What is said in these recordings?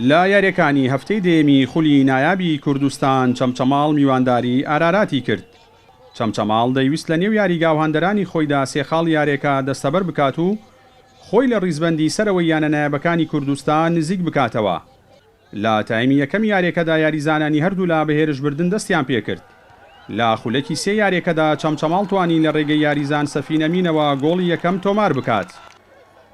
لە یارییەکانی هەفتەی دەیەمی خولی نایابی کوردستان چەمچەماڵ میوانداری ئاراراتی کرد، چەمچەماڵ دەیوست لە نێو یاریگاو هاندەرانی خۆیدا سێ خاڵی یاریەکە دەستەبەر بکات و خۆی لە ڕیزبەندی سەرەوەی یانە نایابەکانی کوردستان نزیک بکاتەوە، لە تایمی یەکەمی یاریەکەدا یاریزانانی هەردوولا بە هێرش بردن دەستیان پێکرد، لە خولەکی سێ یاریەکەدا چەمچەماڵ توانی لە رێگەی یاریزان سەفین ئەمینەوە گۆڵی یەکەم تۆمار بکات،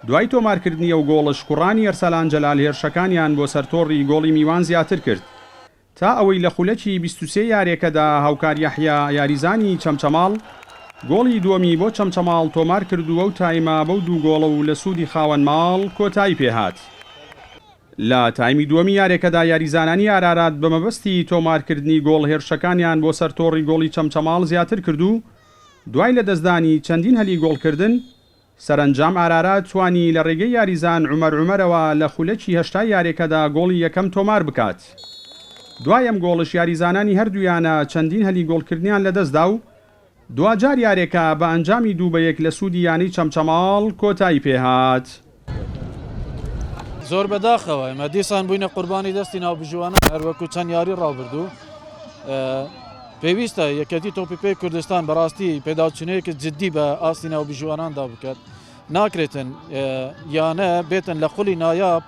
دوای تۆمارکردنی ئەو گۆڵەش کوڕانی ئەرسەلان جەلال هێرشەکانیان بۆ سەر تۆڕی گۆڵی میوان زیاتر کرد تا ئەوەی لە خولەکی بیست و سێ یاریەکەدا هاوکار یەحیا یاریزانی چەمچەماڵ گۆڵی دووەمی بۆ چەمچەماڵ تۆمار کردو ئەو تایمە بەو دوو گۆڵە و لە سوودی خاوەن ماڵ کۆتایی پێهات. لە تایمی دووەمی یاریەکەدا یاریزانانی ئارارات بە مەبەستی تۆمارکردنی گۆڵ هێرشەکانیان بۆ سەر تۆڕی گۆڵی چەمچەماڵ زیاتر کرد و دوای لەدەستدانی چەندین هەلی گۆڵکردن سەرەنجام ئارارات توانی لە رێگەی یاریزان عومەر عومەرەوە لە خولەکی هەشتای یاریەکەدا گۆڵی یەکەم تۆمار بکات دوای ئەم گۆڵش یاریزانانی هەردوو یانە چەندین هەلی گۆڵکردنیان لەدەستدا و دواجار یاریەکە بە ئەنجامی دوو بە یەک لە سوودی یانەی چەمچەماڵ کۆتایی پێهات. زۆر بەداخەوە ئێمە دیسان بووینە قوربانی دەستی ناوبژیوانان هەروەکو چەند یاری ڕابردوو پێویستە یەکێتی تۆپی پێی کوردستان بەڕاستی پێداچونەیەکی جددی بە ئاستی ناوبژیواناندا بکات. ناکرێتن یانە بێتن لە خولی نایاب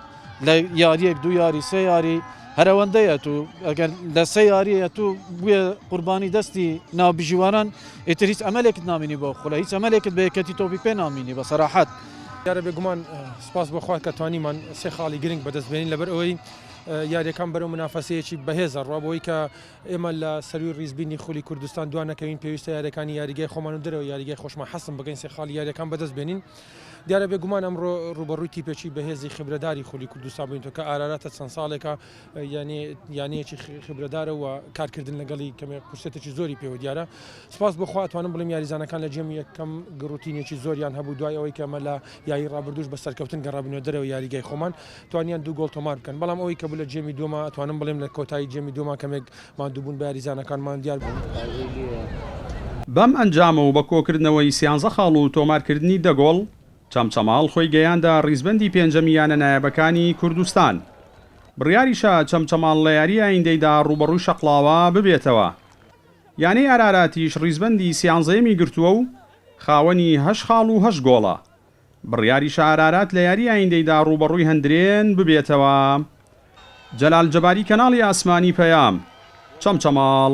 لە یاریەک دو یاری سێ یاری هەرەوەندەیە تو ئەگەر لە سێ یاریە تو بێ قوربانی دەستی ناوبژیوانان ئیتر هیچ ئەمەلێکت نامینی بۆ خولە هیچ ئەمەلێکت بەیەکەتی تۆپی پێ نامینی بە سەراحەت. دیارە بێگومان سپاس بۆخوا کە توانیمان سێ خاڵی گرنگ بەدەستبێنین لەبەر ئەوەی یاریەکان بەرەو منافەسەیەکی بەهێزە ڕوابەوەی کە ئێمە لە سەرووی ڕیزبینی خولی کوردستان دوا نەکەوین، پێویستە یارییەکانی یاریگای خۆمان و دەرەوەی یاریگای خۆشمان حەسم بکەین، سێ خاڵی یارییەکان بەدەست بێنین. دیارە بێگومان ئەمڕۆ ڕووبەڕووی تیپێکی بەهێزی خیبرەداری خولی کوردستان بووینەوە کە ئاراراتە چەند ساڵێکە یانەیەکی خیبرەدارە و کارکردن لەگەڵی کەمێک فرسەتێکی زۆری پێوە دیارە. سوپاس بۆ خوا ئەتوانم بڵێم یاریزانەکان لە جێم یەکەم گڕوتینێکی زۆریان هەبوو دوای ئەوەی کە ئێمە لە یاریی ڕابردووش بە سەرکەوتن گەڕابووینەوە دەرەوەی یاریگای خۆمان، توانیان دوو گۆڵ تۆمار بکەن، بەڵام ئەوەی کە بوو لە جێمی دووەما، ئەتوانم بڵێم لە کۆتایی جێمی دووەما کەمێک ماندووبوون بە یاریزانەکانمان دیار بوو. بەم ئەنجامە و بە کۆکردنەوەی سیانزە خاڵ و تۆمارکردنی دە گۆڵ، چەمچەماڵ خۆی گەیاندە ریزبەندی پێنجەمی یانە نایابەکانی کوردستان. بڕیاریشە چەمچەماڵ لە یاریی ئایندەیدا رووبەڕووی شەقڵاوە ببێتەوە. یانەی ئاراراتیش ریزبەندی سیانزەیەمی گرتووە و خاوەنی هەشت خاڵ و هەشت گۆڵە. بڕیاریشە ئارارات لە یاری ئایندەیدا ڕووبەڕووی هەندرێن ببێتەوە. جەلال جەباری کەناڵی ئاسمانی پەیام. چەمچەماڵ.